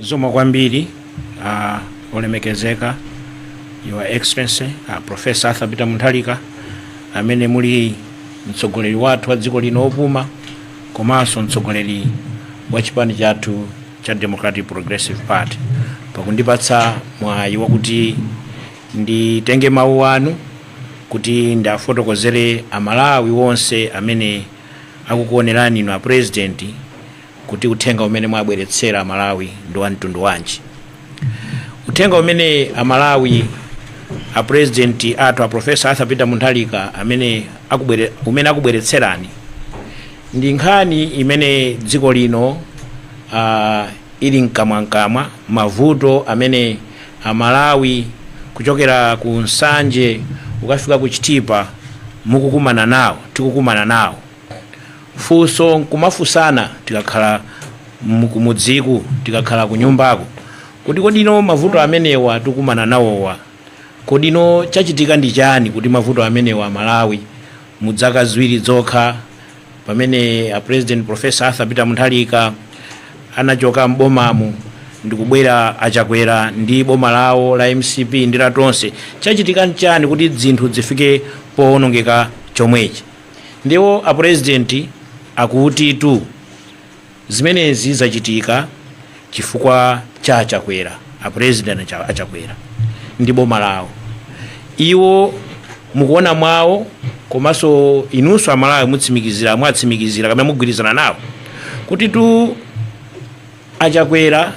Zikomo kwambiri a olemekezeka your excellency a professor Arthur Peter Mutharika amene muli mtsogoleri wathu wa dziko lino opuma komanso mtsogoleri wa chipani chathu cha Democratic Progressive Party pakundipatsa mwayi wakuti nditenge mawu anu kuti ndiafotokozere Amalawi onse amene akukuonerani inu a president kuti uthenga umene mwabweretsera amalawi ndi wa mtundu wanji uthenga umene amalawi a president athu a professor arthur peter mutharika amene akubwere, umene akubweretserani ndi nkhani imene dziko lino uh, ili mkamwamkamwa mavuto amene amalawi kuchokera ku nsanje kukafika ku chitipa mukukumana nawo tikukumana nawo funso nkumafunsana tikakhala mkumudziku tikakhala kunyumbaku kuti kodino mavuto amenewa tikukumana nawowa kodino chachitika ndi chani kuti mavuto amenewa amalawi mudzaka ziwiri zokha pamene a president professor arthur peter mutharika anachoka m'bomamu ndikubwera a Chakwera ndi boma lawo la mcp ndi la tonse chachitika nchani kuti zinthu zifike powonongeka chomwechi Ndiye a president akutitu zimenezi zachitika chifukwa cha a Chakwera a president a Chakwera ndi boma lawo iwo mukuona kwawo komanso inunso amalawi mutsimikizira mwatsimikizira kapena mugwirizana nawo kutitu a Chakwera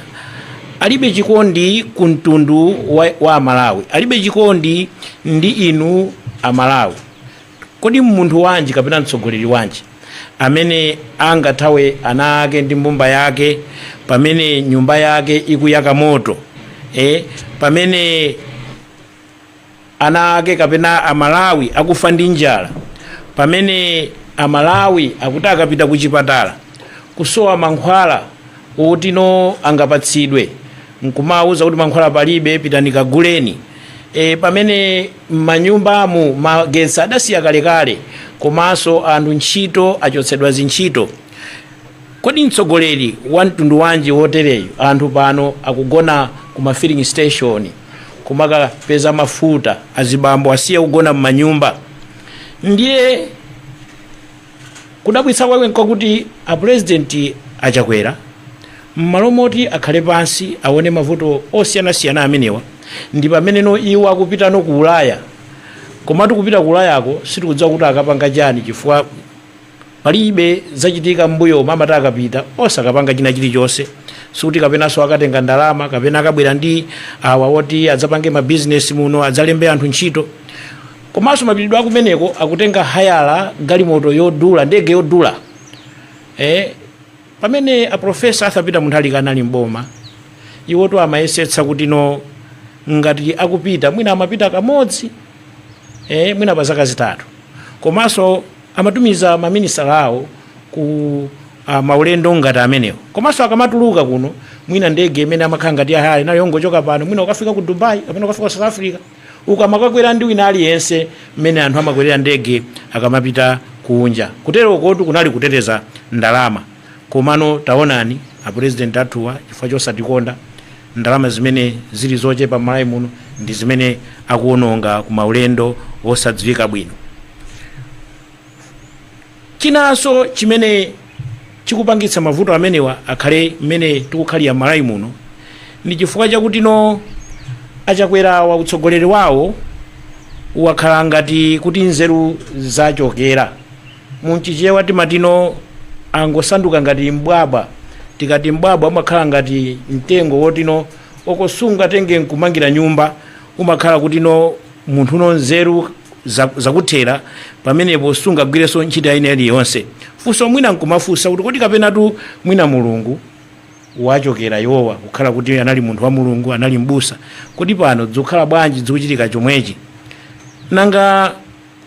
alibe chikondi ku mtundu wa, wa amalawi alibe chikondi ndi inu amalawi Kodi munthu wanji kapena mtsogoleri wanji amene angathawe ana ake ndi mbumba yake pamene nyumba yake ikuyaka moto eh? pamene ana ake kapena amalawi akufa ndi njala pamene amalawi akuti akapita ku chipatala kusowa mankhwala otino angapatsidwe nkumawauza kuti mankhwala palibe pitani kaguleni e, pamene Mmanyumbamu magetsi adasiya kalekale komanso anthu ntchito achotsedwa mzintchito. Kodi mtsogoleri wa mtundu wanji wotereyu? Anthu pano akugona ku ma filling station kumakapeza mafuta. Azibambo asiya kugona mmanyumba ndiye. Kudabwitsa kwake nkakuti a president a Chakwera mmalo moti akhale pansi awone mavuto osiyanasiyana amenewa ndipameneno iwo akupitano ku ulaya komatu kupita ku ulayako sitikudziwa kuti akapanga chiyani chifukwa palibe zachitika mmbuyomu amati akapita osakapanga china chilichonse sikuti kapenanso akatenga ndalama kapena akabwera ndi awa oti adzapange ma business muno adzalembe anthu ntchito Komanso mapitidwe akumeneko akutenga hayala galimoto yodula, ndege yodula. Eh, pamene a Professor Arthur Peter Mutharika anali m'boma, iwotu amayesetsa kuti no ngati akupita mwina amapita kamodzi eh, mwina pa zaka zitatu komanso amatumiza maminisita awo ku uh, maulendo ngati amenewo komanso akamatuluka kuno mwina ndege imene amakhala ngati yahayala yo ongochoka pano mwina ukafika ku dubai kapena ukafika ku south africa Ukamakakwera ndi wina aliyense mmene anthu amakwerera ndege akamapita kunja. Kutero kotu kunali kuteteza ndalama. Komano taonani apulezidenti athuwa chifukwa chosatikonda, ndalama zimene zili zochepa m'Malawi muno ndi zimene akuononga ku maulendo osadziwika bwino. Chinanso chimene chikupangitsa mavuto amenewa akhale mmene tikukhalira mmalawi muno ndi chifukwa chakutino achakwerawa utsogoleri wawo wakhala ngati kuti nzeru zawachokera mu Chichewa timatino angosanduka ngati mbwabwa tikati mbwabwa umakhala ngati mtengo wotino okosungatenge nkumangira nyumba umakhala kuti no munthu no nzeru za- zakuthera pamenepo sungagwirenso ntchito ina iliyonse funso mwina nkumafunsa kuti kodi kapenatu mwina mulungu wawachokera iwowa kukhala kuti anali munthu wa mulungu anali mbusa kodi pano dzikukhala bwanji dzikuchitika chomwechi nanga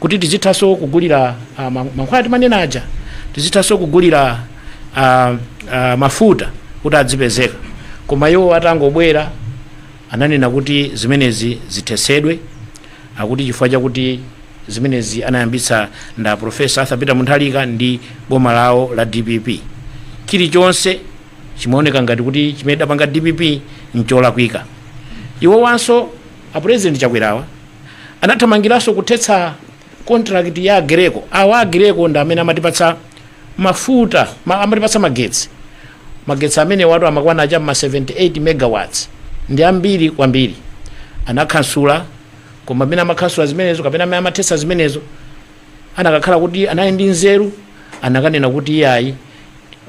kuti tizithanso kugulira ah, ma- mankhwala timanena aja tizithanso kugulira ah, ah, mafuta kuti adzipezeka koma iwo atangobwera ananena kuti zimenezi zithesedwe akuti chifukwa chakuti zimenezi anayambitsa nda profesa arthur peter mutharika ndi boma lawo la dpp chilichonse chimaoneka ngati kuti chimene idapanga dpp ncholakwika iwo wanso a president chakwerawa anathamangiranso kuthetsa contract ya Aggreko awa Aggreko ndi amene amatipatsa mafuta ma, amatipatsa magetsi magetsi amenewatu amakwana cha mma 78 megawatts ndi ambiri kwambiri anakhansula koma mmene amakhansula zimenezo kapena mmene amathetsa zimenezo anakakhala kuti anali ndi nzeru anakanena kuti iyayi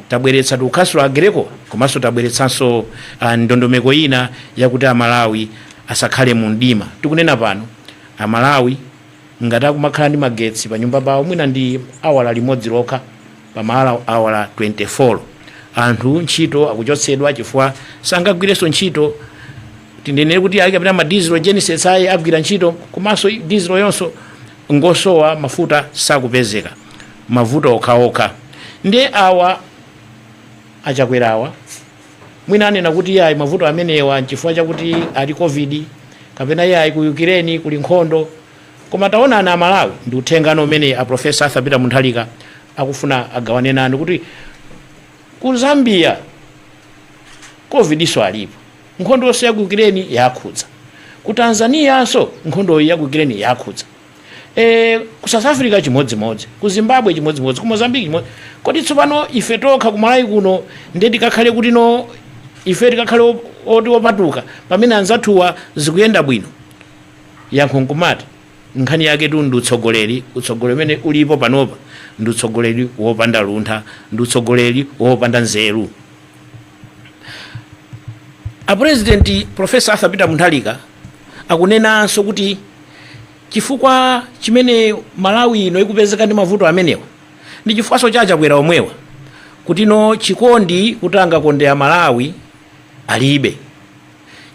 tabweretsa tukhansula a Greco komanso tabweretsanso ah, ndondomeko ina yakuti amalawi asakhale mu mdima tikunena pano amalawi ngati akumakhala ndi magetsi pa nyumba pawo mwina ndi awala limodzi lokha pa maawala awala 24 anthu ntchito akuchotsedwa chifukwa sangagwirenso ntchito tinenere kuti ayi kapena ma diesel gensets ayi agwira ntchito komanso dieselyonso ngosowa mafuta sakupezeka mavuto okhaokha nde awa achakwera awa mwina anena kuti iye ayi mavuto amenewa nchifukwa chakuti kuli covid kapena iye ayi ku Ukraine kuli nkhondo koma taonani amalawi ndi uthengatu umene a profesa arthur peter Mutharika akufuna agawane nanu kuti ku zambia covidinso alipo nkhondonso ya ku Ukraine yakhudza ku Tanzanianso nkhondoyi ya ku Ukraine yakhudza E, ku South Africa chimodzimodzi, ku Zimbabwe chimodzimodzi, ku Mozambique chimodzi. Kodi tsopano ife tokha ku Malawi kuno ndiye tikakhale kuti no ife tikakhale op- oti opatuka pamene anzathuwa zikuyenda bwino? yankho nkumati nkhani yaketu ndi utsogoleri utsogoleri umene ulipo panopa ndi utsogoleri wopanda luntha ndi utsogoleri wopanda nzeru apurezidenti profesa arthur peter Mutharika Akunenanso kuti chifukwa chimene Malawi ino ikupezeka ndi mavuto amenewa ndi chifukwanso cha achakwera omwewa kuti no chikondi kuti angakonde a Malawi alibe.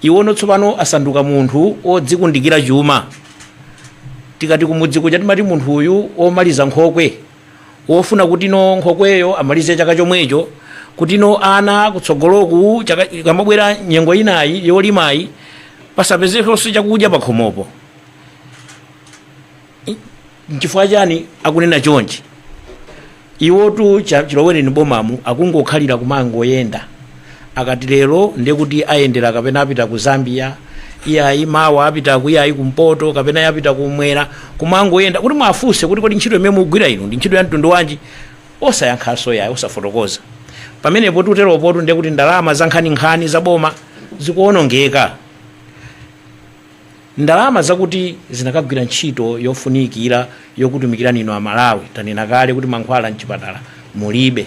Iwono tsopano asanduka munthu wodzikundikira chuma. Tikati kumudzi kuja timati munthu uyu womaliza nkhokwe. wofuna kuti no nkhokweyo amalize chaka chomwecho kuti no ana kutsogoloku chaka- ikamabwera nyengo inayi yolimayi pasapezekonso chakudya pakhomopo I- nchifukwa chani akunena chonchi iwotu cha- chilowereni bomamu akungokhalira kumangoyenda akati lero ndekuti ayendera kapena apita ku zambia iyayi mawa apita ku iyayi kumpoto kapena apita kumwera kumangoyenda kuti mwafunse kuti kodi ntchito imene mugwira inu ndi ntchito ya mtundu wanji osayankhanso yayi osafotokoza pamenepo poteropotu ndekuti ndalama zankhaninkhani zaboma zikuonongeka Ndalama zakuti zinakagwira ntchito yofunikira yokutumikirani inu Amalawi. Tanena kale kuti mankhwala mchipatala mulibe.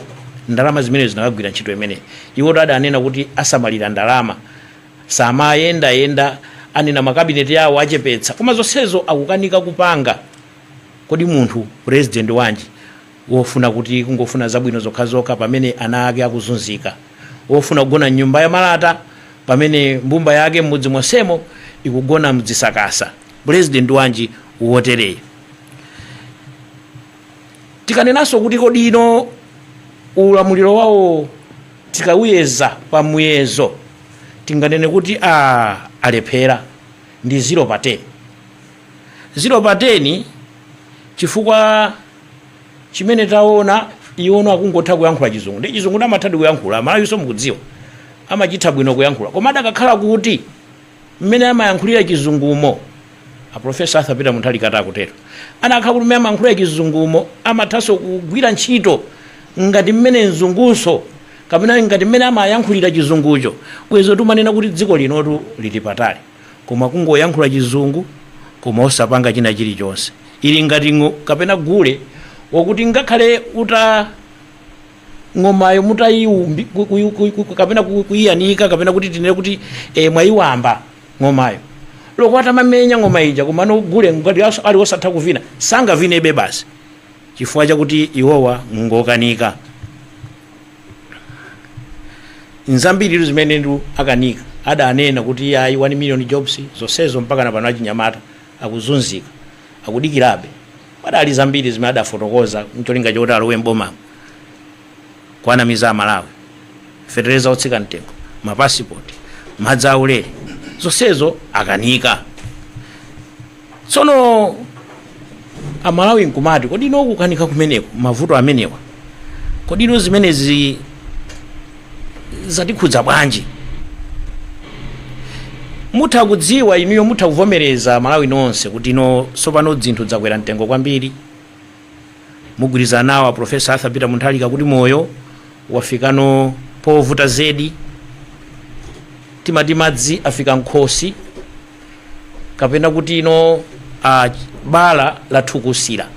Ndalama zimenezo zinakagwira ntchito imeneyi. Iwotu adanena kuti asamalira ndalama. Samayendayenda. Anena makabineti yawo achepetsa. Koma zonsezo akukanika kupanga. Kodi munthu pulezidenti wanji? wofuna kuti kungofuna zabwino zokhazokha pamene ana ake akuzunzika, wofuna kugona m'nyumba ya malata pamene mbumba yake m'mudzi monsemo ikugona mdzisakasa. Pulezidenti wanji wotereyu? Tikanenanso kuti kodi ino ulamuliro wawo tikawuyeza pa muyezo tinganene kuti aah alephera ndi 0 pa 10. 0 pa 10 chifukwa. chimene taona iwono akungotha kuyankhula chizungu ndi chizungu amathadi kuyankhula Amalawinso mukudziwa amachitha bwino kuyankhula koma adakakhala kuti mmene amayankhulira chizungumo aprofesa Arthur Peter Mutharika akutero anakakhala kuti mmene amayankhulira chizungumo amathanso kugwira ntchito ngati mmene mzungu kapena ngati mmene amayankhulira chizungucho bwenzi tikumanena kuti dziko linotu lili patali koma kungoyankhula chizungu koma osapanga china chilichonse ili ngati ng'o- kapena gule wakuti ngakhale uta ng'omayo mutayiumbi ku- ku- ku- ku- ku- kapena ku- kuyiyanika kapena kuti tinene kuti e, mwayiwamba ng'omayo olo atamamenya ng'oma ija komano gule ngati aso- ali osatha kuvina sangavinebe basi chifukwa chakuti iwowa ngokanika nzambiritu zimene nduna zakanika adanena kuti ayi 1 million jobs zonsezo mpaka na pano achinyamata akuzunzika akudikirabe padali zambiri zimene adafotokoza ncholinga choti alowe m'bomamo kuwanamiza amalawi fetereza otsika mtengo mapasipoti madzi aulere zonsezo akanika tsono amalawi nkumati kodi ino kukanika kumeneko mavuto amenewa kodi ino zimenezi zatikhudza bwanji mutha kudziwa inuyo mutha kuvomereza Amalawi nonse kuti ino tsopano dzinthu dzakwera mtengo kwambiri mugwirizana nawo a profesa arthur peter Mutharika kuti moyo wafikano povuta zedi timati madzi afika m'khosi kapena kuti ino bala lathukusira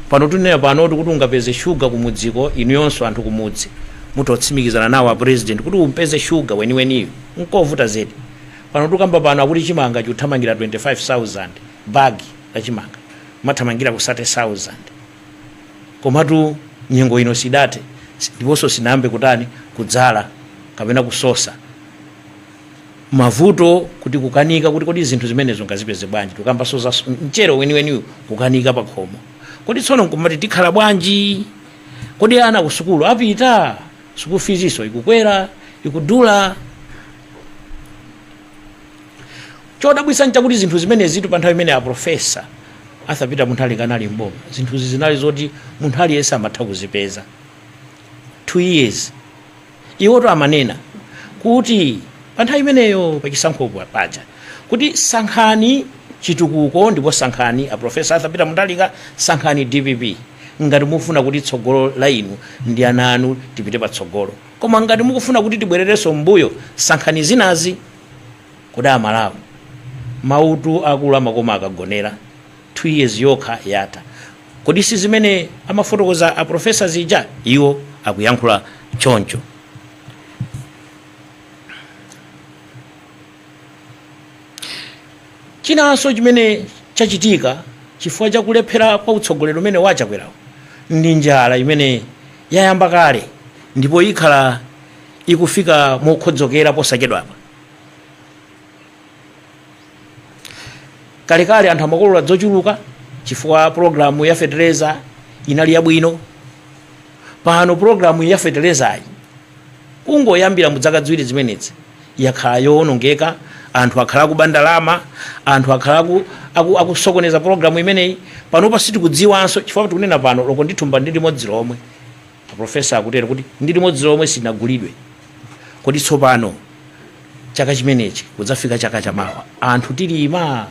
pano tikunena pano kuti ungapeze shuga kumudziko inu yonso anthu kumudzi mutsimikizana nawo a president kuti uupeze shuga weniweniyo nkovuta zedi pano tikukamba pano akuti chimanga chikuthamangira 25000 bagi la chimanga mathamangira ku 30000 komatu nyengo ino sidathe ndiponso sinayambe kutani kudzala kapena kusosa mavuto kuti kukanika kuti kodi zinthu zimenezo ngazipeze bwanji tukambanso za mchero weniweniyu kukanika pakhomo kodi tsono nkumati tikhala bwanji kodi ana ku sukulu apita sukulu fizinso ikukwera ikudula chodabwisa nchakuti zinthu zimenezitu pa nthawi imene aprofesa arthur peter mutharika anali mboma zinthuzi zinali zoti munthu aliyense amatha kuzipeza two years Iwotu amanena kuti pa nthawi imeneyo pa chisankho paja kuti sankhani chitukuko ndipo sankhani a Prof. Arthur Peter Mutharika, sankhani dpp ngati mukufuna kuti tsogolo la inu ndi ana anu tipite patsogolo koma ngati mukufuna kuti tibwererenso mmbuyo sankhani zinazi. Kodi a Malawi, mawutu akulu amakoma akagonera? 2 years yokha yatha. Kodi si zimene amafotokoza a professor zija? Iwo akuyankhula choncho. Chinanso chimene chachitika chifukwa cha kulephera kwa utsogoleri umene wa Chakwerawu ndi njala imene yayamba kale ndipo ikhala ikufika mokhodzokera posachedwapa. kalekale anthu amakolola dzochuluka chifukwa programu ya fetereza inali yabwino pano programu ya feterezayi kungoyambira mu dzaka dziwiri zimenezi yakhala yowonongeka anthu akhala akuba ndalama anthu akhala aku- aku- akusokoneza programu imeneyi panopa sitikudziwanso chifukwa tikunena pano loko ndithumba ndi limodzi lomwe A Professor akutero kuti ndi limodzi lomwe sinagulidwe. Kodi tsopano chaka chimenechi kudzafika chaka cha mawa, anthu tilima?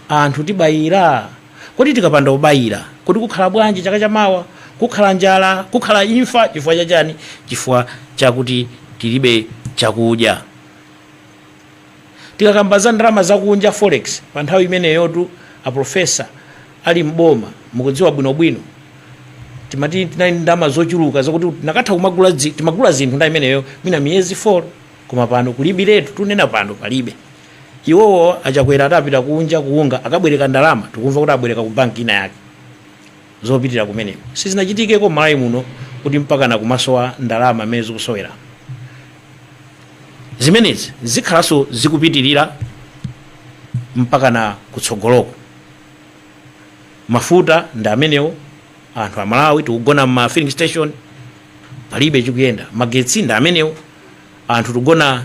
Anthu tibayira? Kodi tikapanda kubayira, kodi kukhala bwanji chaka cha mawa? Kukhala njala? Kukhala imfa? Chifukwa cha chani? Chifukwa chakuti tilibe chakudya. Tikakamba za ndalama zakunja, forex, pa nthawi imeneyotu a Professor ali m'boma, mukudziwa bwinobwino, timati tinali ndi ndalama zochuluka zakuti tinakatha kumagula, timagula zinthu nthawi imeneyo mwina miyezi 4 koma pano kulibiretu, tunena pano palibe. Iwowo a Chakwera atapita kunja ku unga akabwereka ndalama, tikumva kuti abwereka ku banki ina yake. zopitira kumeneko sizinachitikeko mmalawi muno kuti mpakana kumasowa ndalama mmene zikusowera zimenezi zikhalanso zikupitirira mpakana kutsogoloko mafuta ndi amenewo anthu amalawi tikugona mma filling station palibe chikuyenda magetsi ndi amenewo anthu tikugona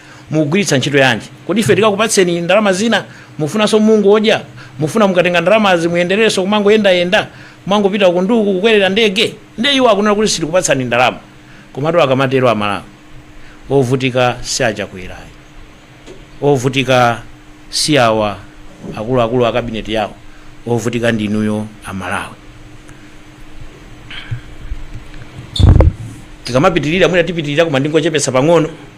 Mukugwiritsa ntchito yanji? Kodi ife tikakupatseni ndalama zina? Mufunanso mungodya? Mufuna mukatenga ndalamazi muyendererenso kumangoyendayenda? Kumangopita uku ndi uku kukwerera ndege? Ndiye iwo akunena kuti sitikupatsani ndalama. Komatu akamatero Amalawi, ovutika si a Chakwera ayi. Ovutika si awa akuluakulu a kabineti yawo. Ovutika ndi inuyo Amalawi. Tikamapitirira mwina tipitirira koma ndingochepetsa pang'ono.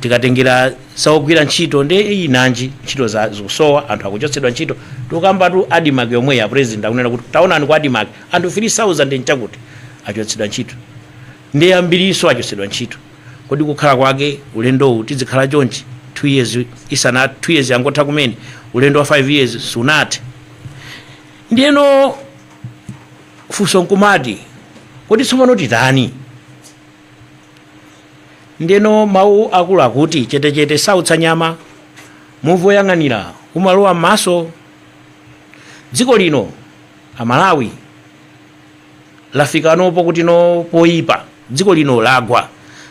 tikatengera saogwira ntchito ndiye nanji ntchito zake zikusowa anthu akuchotsedwa ntchito tikambatu ADMARC yomweyi a president akunena kuti taonani kwa ADMARC anthu 3000 nchakuti achotsedwa ntchito ndi ambirinso achotsedwa ntchito kodi kukhala kwake ulendowu tizikhala chonchi 2 years isana 2 years yangotha kumene ulendo wa 5 years sunathe ndiyeno funso nkumati kodi tsopano titani Ndiyeno mawu akulu akuti, Chetechete, sautsa nyama. Muvi woyang'anira umalowa m'maso. Dziko lino Amalawi lafikano pokuti no poyipa. Dziko lino lagwa.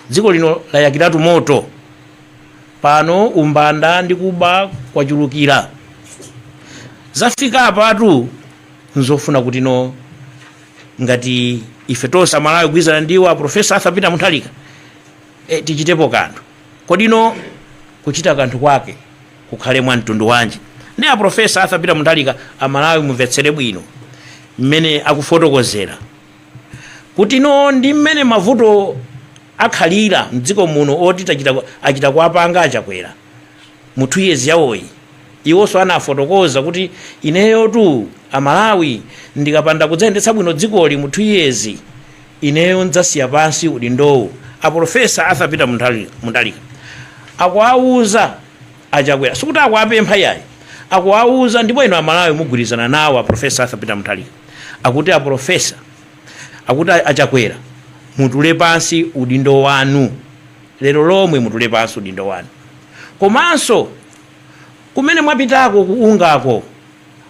Dziko lino layakiratu moto. Pano umbanda ndi kuba kwachulukira. Zafika apatu n'zofuna kuti no ngati ife tonse amalawi kugwirizana ndi iwo aprofesa arthur peter mutharika e, tichitepo kanthu kodi no kuchita kanthu kwake kukhale mwa mtundu wanji ndiye aprofesa arthur peter mutharika amalawi mumvetsere bwino mmene akufotokozera kuti no ndi mmene mavuto akhalira mdziko muno oti achita kuwapanga achakwera mu 2 years yawoyi iwonso anafotokoza kuti ineyotu amalawi ndikapanda kudzayendetsa bwino dzikoli mu 2 years ineyo ndzasiya pansi udindowu a polofesa arthur peter mutharika akuwawuza achakwera sikuti akuwapempha yayi akuwawuza ndipo inu amalawi mugwirizana nawo a polofesa arthur peter mutharika akuti a polofesa akuti achakwera mutule pansi udindo wanu lero lomwe mutule pansi udindo wanu komanso kumene mwapitako ku UNGA ko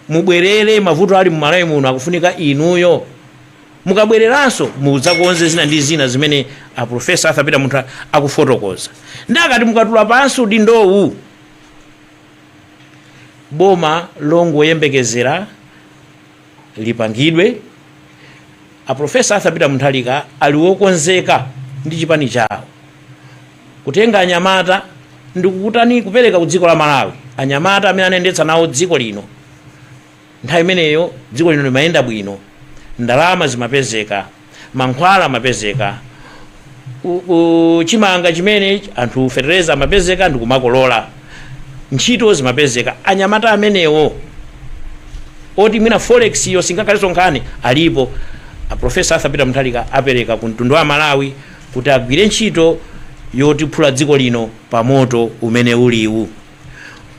mubwerere mavuto ali mumalawi muno akufunika inuyo mukabwereranso mudzakonze zina ndi zina zimene aprofesa arthur peter muntha akufotokoza ndiye akuti mukatula pansi udindowu boma longoyembekezera lipangidwe. A Professor Arthur Peter Mutharika ali wokonzeka ndi chipani chawo kutenga anyamata ndikukutani kupereka ku dziko la Malawi anyamata amene anayendetsa nawo dziko lino nthawi imeneyo dziko lino limayenda bwino ndalama zimapezeka mankhwala amapezeka ku, ku chimanga chimene anthu fetereza amapezeka ndi kumakolola ntchito zimapezeka anyamata amenewo oti mwina forex iyo singakhalenso nkhani alipo aprofesa arthur peter mutharika apereka ku mtundu wa amalawi kuti agwire ntchito yotiphula dziko lino pa moto umene uliwu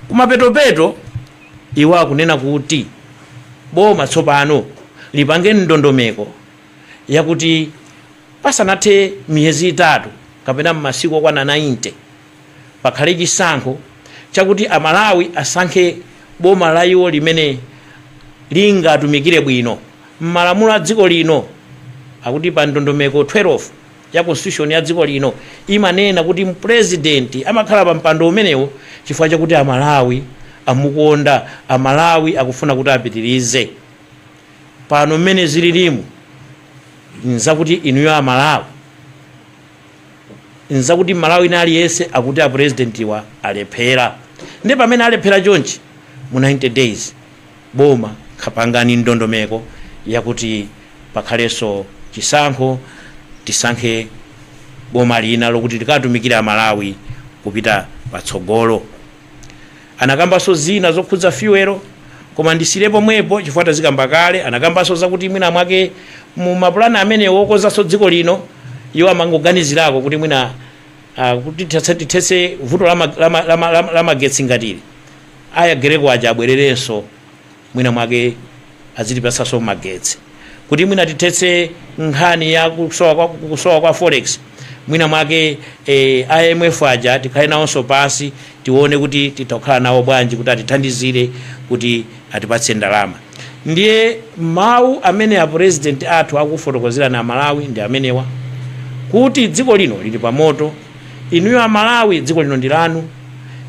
kumapetopeto Iwo akunena kuti boma tsopano lipange ndondomeko yakuti pasanathe miyezi itatu kapena masiku okwana 90 pakhale chisankho chakuti Amalawi asankhe boma la iwo limene lingatumikire bwino m'malamulo a dziko lino. Akuti pa ndondomeko 12. ya Constitution ya dziko lino imanena kuti Purezidenti amakhala pa mpando umenewo chifukwa chakuti a Malawi amukonda, a Malawi akufuna kuti apitirize. Pano mmene zililimu n'zakuti inuyo a Malawi, n'zakuti m'Malawi wina aliyense akuti a Purezidentiwa alephera. Ndiye pamene alephera chonchi mu 90 days, boma pangani ndondomeko yakuti pakhaleso chisankho tisankhe boma lina lokuti likatumikire amalawi kupita patsogolo anakambaso zina zokhudza fuel koma ndisiyire pomwepo chifukwa tazikamba kale anakambaso zakuti mwina mwake mu mapulani amene wokonzaso dziko lino iwo amangoganizirako kuti mwina uh, kuti tithetse vuto la magetsi ngatili Aya Aggreko aja abwererenso mwina mwake azitipatsanso magetsi kuti mwina tithetse nkhani ya kusowa kwa, kusowa kwa forex mwina mwake eh, IMF aja tikhale nawonso pansi tione kuti titha kukhala nawo bwanji kuti atithandizire kuti atipatse ndalama ndiye mawu amene a president athu akufotokozerani amalawi ndi amenewa kuti dziko lino lili pa moto Inuyo a Malawi dziko lino ndi lanu.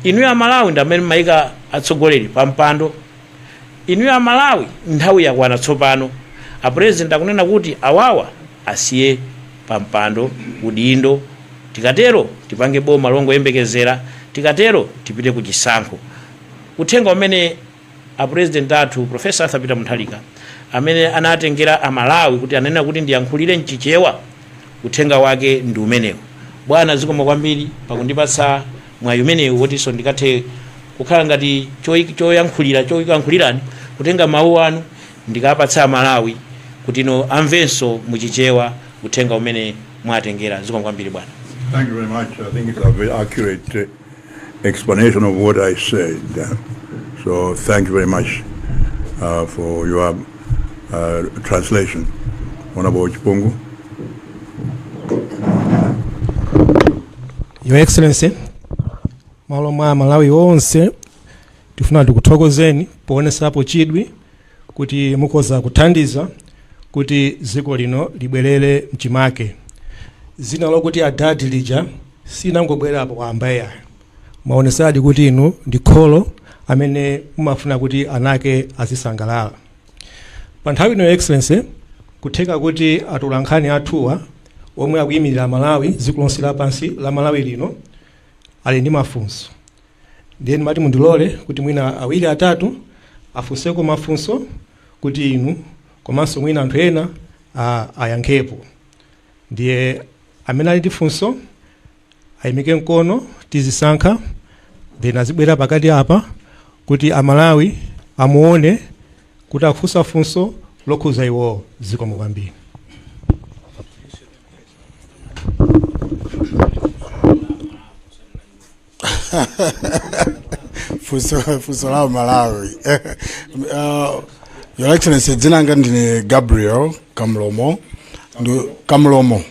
Inuyo a Malawi ndi amene mumaika atsogoleri pa mpando. Inuyo a Malawi nthawi yakwana tsopano a president akunena kuti awawa asiye pa mpando, udindo. Tikatero tipange boma longoyembekezera. Tikatero tipite ku chisankho. Uthenga umene. a president athu professor Arthur Peter Mutharika amene anatengera a Malawi kuti ananena kuti ndiyankhulire mchichewa uthenga wake ndi umenewu bwana zikomo kwambiri pakundipatsa mwayi umenewu wotinso ndikathe kukhala ngati choyi- choyankhulira choyankhulirani kutenga mawu anu ndikapatsa a Malawi kuti nawo amvenso muchichewa uthenga umene mwatengera zikomo kwambiri bwana Thank you very much. I think it's a very accurate uh, explanation of what I said. So thank you very much uh, for your uh, translation. Honorable Chipungu. Your Excellency, m'malo mwa Amalawi onse tifuna tikuthokozeni poonetsapo chidwi kuti mukhoza kuthandiza kuti dziko lino libwerere mchimake. Dzina lokuti adadi lija silinangobwerapo wamba iyayi. Mwaonetsadi kuti inu ndi kholo amene mumafuna kuti ana ake azisangalala. Pa nthawi ino Your Excellency, n'kutheka kuti atolankhani athuwa omwe akuyimirira Amalawi dziko lonse lapansi la Malawi lino ali ndi mafunso. ndiye ndimati mundilole kuti mwina awiri atatu afunseko mafunso kuti inu komanso mwina anthu ena a- ayankhepo ndiye amene ali ndi funso ayimike mkono tizisankha then azibwera pakati apa kuti amalawi amuone kuti akufunsa funso lokhuza iwowo zikomo kwambiri funso funso la amalawi uh, your excellency dzina langa ndine gabriel kamlomo Ndu, kamlomo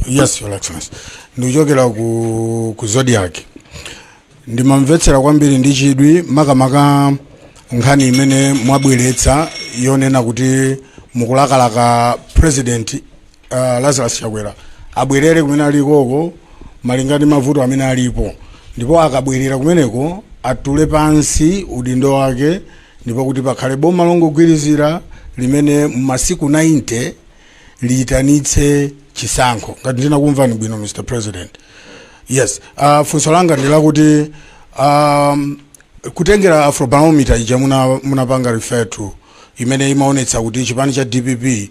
yes your excellency ndikuchokera ku, ku zodiak ndimamvetsera kwambiri ndi chidwi makamaka nkhani imene mwabweretsa yonena kuti mukulakalaka president uh, lazarus chakwera abwerere kumene alikoko malinga ndi mavuto amene alipo ndipo akabwerera kumeneko atule pansi udindo wake ndipo kuti pakhale boma longogwirizira limene m'masiku 90 liyitanitse chisankho ngati ndinakumvani bwino mr president yes uh, funso langa ndi lakuti um, kutengera afrobarometer ija muna- munapanga refer to imene imaonetsa kuti chipani cha dpp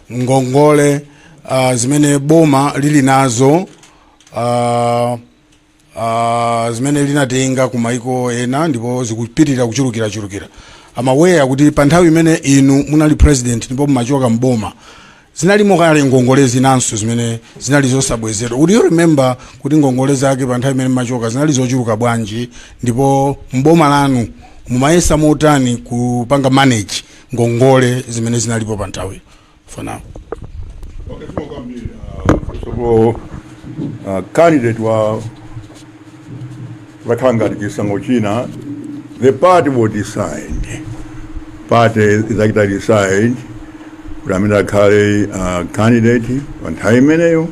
ngongole uh, zimene boma lili nazo uh, uh, zimene linatenga ku maiko ena ndipo zikupitirira kuchulukirachulukira I'm aware kuti pa nthawi imene inu munali president ndipo mumachoka mboma zinalimo kale ngongole zinanso zimene zinali zosabwezedwa would you remember kuti ngongole zake pa nthawi imene mumachoka zinali zochuluka bwanji ndipo mboma lanu mumayesa motani kupanga manage ngongole zimene zinalipo pa nthawi for now Okay, for Gambia, uh, first of all, uh, candidate wakhala ngati chisankho china the party will decide party idzachita decide kuti amene akhale uh, candidate pa nthawi imeneyo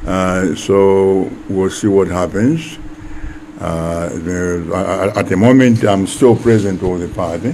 uh, so we'll see what happens uh, the, at the moment i'm still president of the party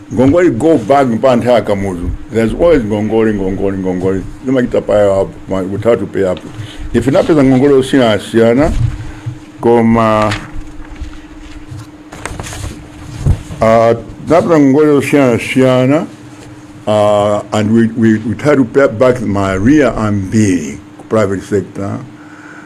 Ngongole go back mpaka nthawi ya Kamuzu. There's always ngongole ngongole ngongole. Zimachita pile up ma- but you have to pay up. Ife tinapeza ngongole osiyana siyana koma uh, tinapeza ngongole osiyana siyana uh, and we, we, we try to pay back ma arrears ambiri ku private sector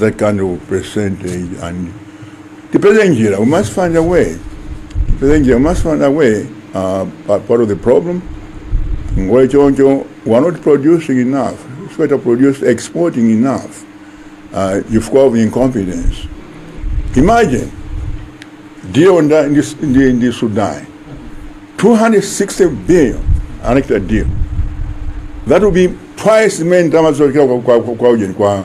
that kind of percentage nde tipeze njira we must find a way tipeze njira we must find a way uh, pa- part of the problem ngongole choncho we are not producing enough sitikuchita produce exporting enough uh, chifukwa of incompetence imagine deal ndi, ndi, ndi, ndi sudan 260 billion anachita deal that will be twice imene ndalama zochokera kwa, kwa, kwa, kwa ujeni kwa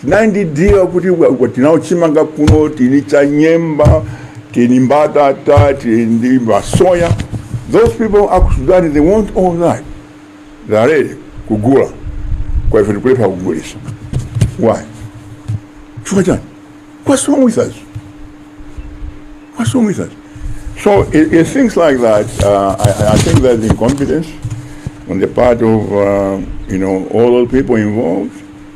Tinandidiwa kuti tinao chimanga kuno tili cha nyemba tili mbatata tili ndi masoya those people aku Sudan they want all that they are ready kugula kwa ife tikulephera kugulisa why chifukwa chani what's wrong with us what's wrong with us so it, it things like that uh, I, I think there's incompetence on the part of uh, you know all those people involved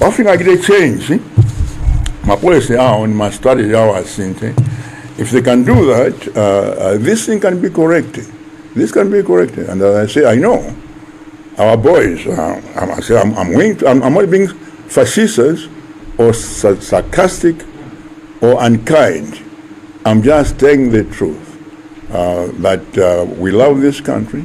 wafika achite change mapolicy awo ndi ma strategy awo asinthe if they can do that uh, uh, this thing can be corrected this can be corrected and as i say i know our boys uh, I'm, I say I'm, I'm, willing to, I'm, I'm not being facetious or sa- sarcastic or unkind i'm just telling the truth uh, that uh, we love this country